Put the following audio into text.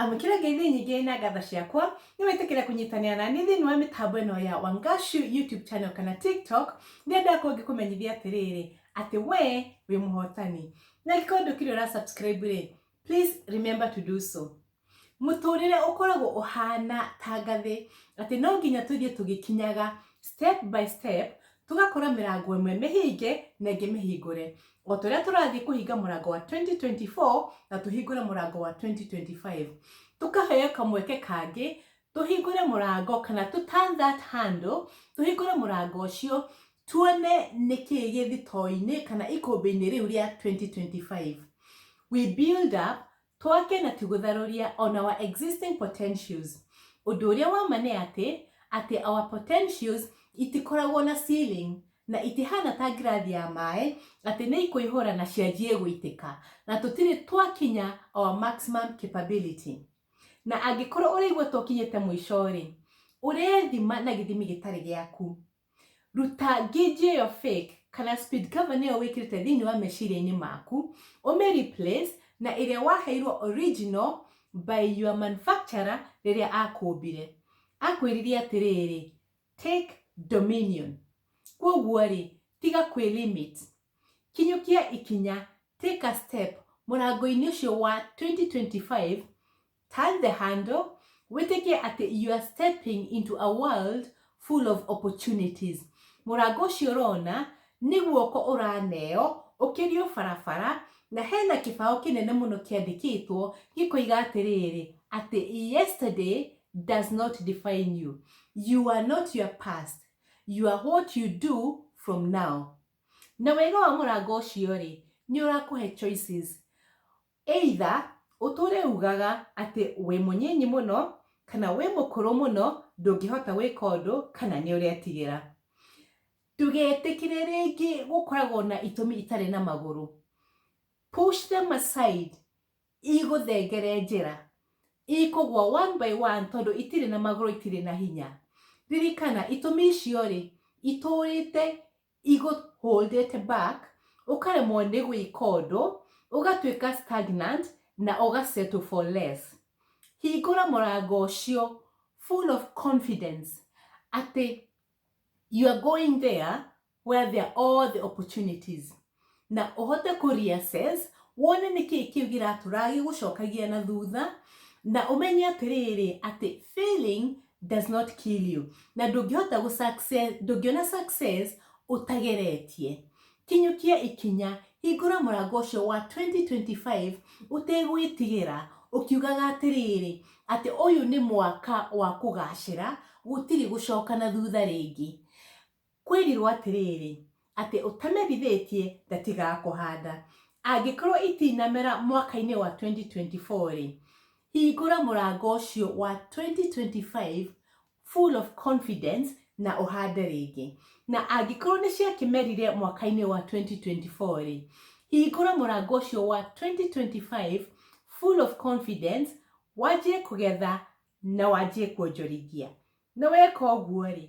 amũkĩra ngeithi nyingĩ na ngatha ciakwa nĩ wĩtĩkĩre kũnyitanĩra na niĩ thĩinĩ wa mĩtambo ĩno ya wangashu youtube channel kana tiktok nĩ andũ akwa ngĩkũmenyithia atĩrĩrĩ atĩ we wĩ mũhotani na angĩkorwo ndũkĩrĩ ũra subscribe rĩ please remember to do so mũtũrĩre ũkoragwo ũhana ta ngathĩ atĩ no nginya tũthiĩ tũgĩkinyaga step by step tũgakora mĩrango ĩmwe mĩhinge na ĩngĩ mĩhingũre o ta ũrĩa tũrathiĩ kũhinga mũrango wa 2024 na tũhingũre mũrango wa 2025 tũkaheo kamweke kangĩ tũhingũre mũrango kana to turn that handle tũhingũre mũrango ũcio tuone nĩ kĩĩ gĩthitoinĩ kana ikũmbĩ-inĩ rĩu rĩa 2025 we build up Twake na tũgũtharũria on our existing potentials. Ũndũ ũrĩa wa ma nĩ atĩ, atĩ our potentials itikoragwo na ceiling, na itihana ta ngirathi ya maĩ, atĩ nĩ ikũihũra na cianjie gũitĩka, na tũtirĩ twakinya our maximum capability. Na angĩkorwo ũraigua ta ũkinyĩte mũico-rĩ, ũrethima na gĩthimi gĩtarĩ gĩaku. ruta nginji ĩyo fake kana speed cover nĩyo wĩkĩrĩte thĩinĩ wa meciria-inĩ maku ũmĩ replace na ĩrĩa waheirwo original by your manufacturer rĩrĩa akũmbire akwĩrire atĩrĩrĩ take dominion kwoguo rĩ tiga kwĩ limit kinyũkia ikinya take a step mũrango-inĩ ũcio wa 2025 Turn the handle, wĩtĩkie atĩ you are stepping into a world full of opportunities. Mũrango ũcio ũrona nĩ guoko ũraneo ũkĩrio barabara na hena kĩbaũ kĩnene mũno kĩandĩkĩtwo gĩkoiga atĩrĩrĩ atĩ yesterday does not define you. You are not your past. You are what you do from now. Na wega wa mũrango ũcio rĩ, nĩ ũrakũhe choices. Either ũtũũre uugaga atĩ wĩ mũnyinyi mũno, kana wĩ mũkũrũ mũno ndũngĩhota gwĩka ũndũ, kana nĩ ũretigĩra. Ndũgetĩkĩre rĩngĩ gũkoragwo na itũmi itarĩ na magũrũ. Push them aside, igũthengere njĩra. Ikũgwa one by one tondũ itirĩ na magũrũ itirĩ na hinya. Ririkana itũmi icio-rĩ, itũũrĩte i got hold it back ukaremwo nĩ gwĩka ũndũ ũgatuĩka stagnant na ũga settle for less hingũra mũrango ũcio full of confidence atĩ you are going there where there are all the opportunities na ũhote kũ reassess wone nĩkĩ kĩu gĩratũra gĩgũcokagia na thutha na ũmenye atĩrĩrĩ atĩ failing does not kill you na ndũngĩhota gũ success ndũngĩona success ũtageretie kinyũkia ikinya hingũra mũrango ũcio wa 2025 ũtegwĩtigĩra ũkiugaga atĩrĩrĩ atĩ ũyũ nĩ mwaka wa kũgacĩra gũtirĩ gũcoka na thutha rĩngĩ Kwĩrirwo atĩrĩrĩ, atĩ ũtamebithĩtie ndatigakũhanda. Angĩkorwo itinamera mwaka-inĩ wa 2024-rĩ, hingũra mũrango ũcio wa 2025 full of confidence na ũhande rĩngĩ. Na angĩkorwo nĩ ciakĩmerire mwaka-inĩ wa 2024-rĩ, hingũra mũrango ũcio wa 2025 full of confidence, wanjie kũgetha na wanjie kuonjorithia. Na weka ũguo-rĩ,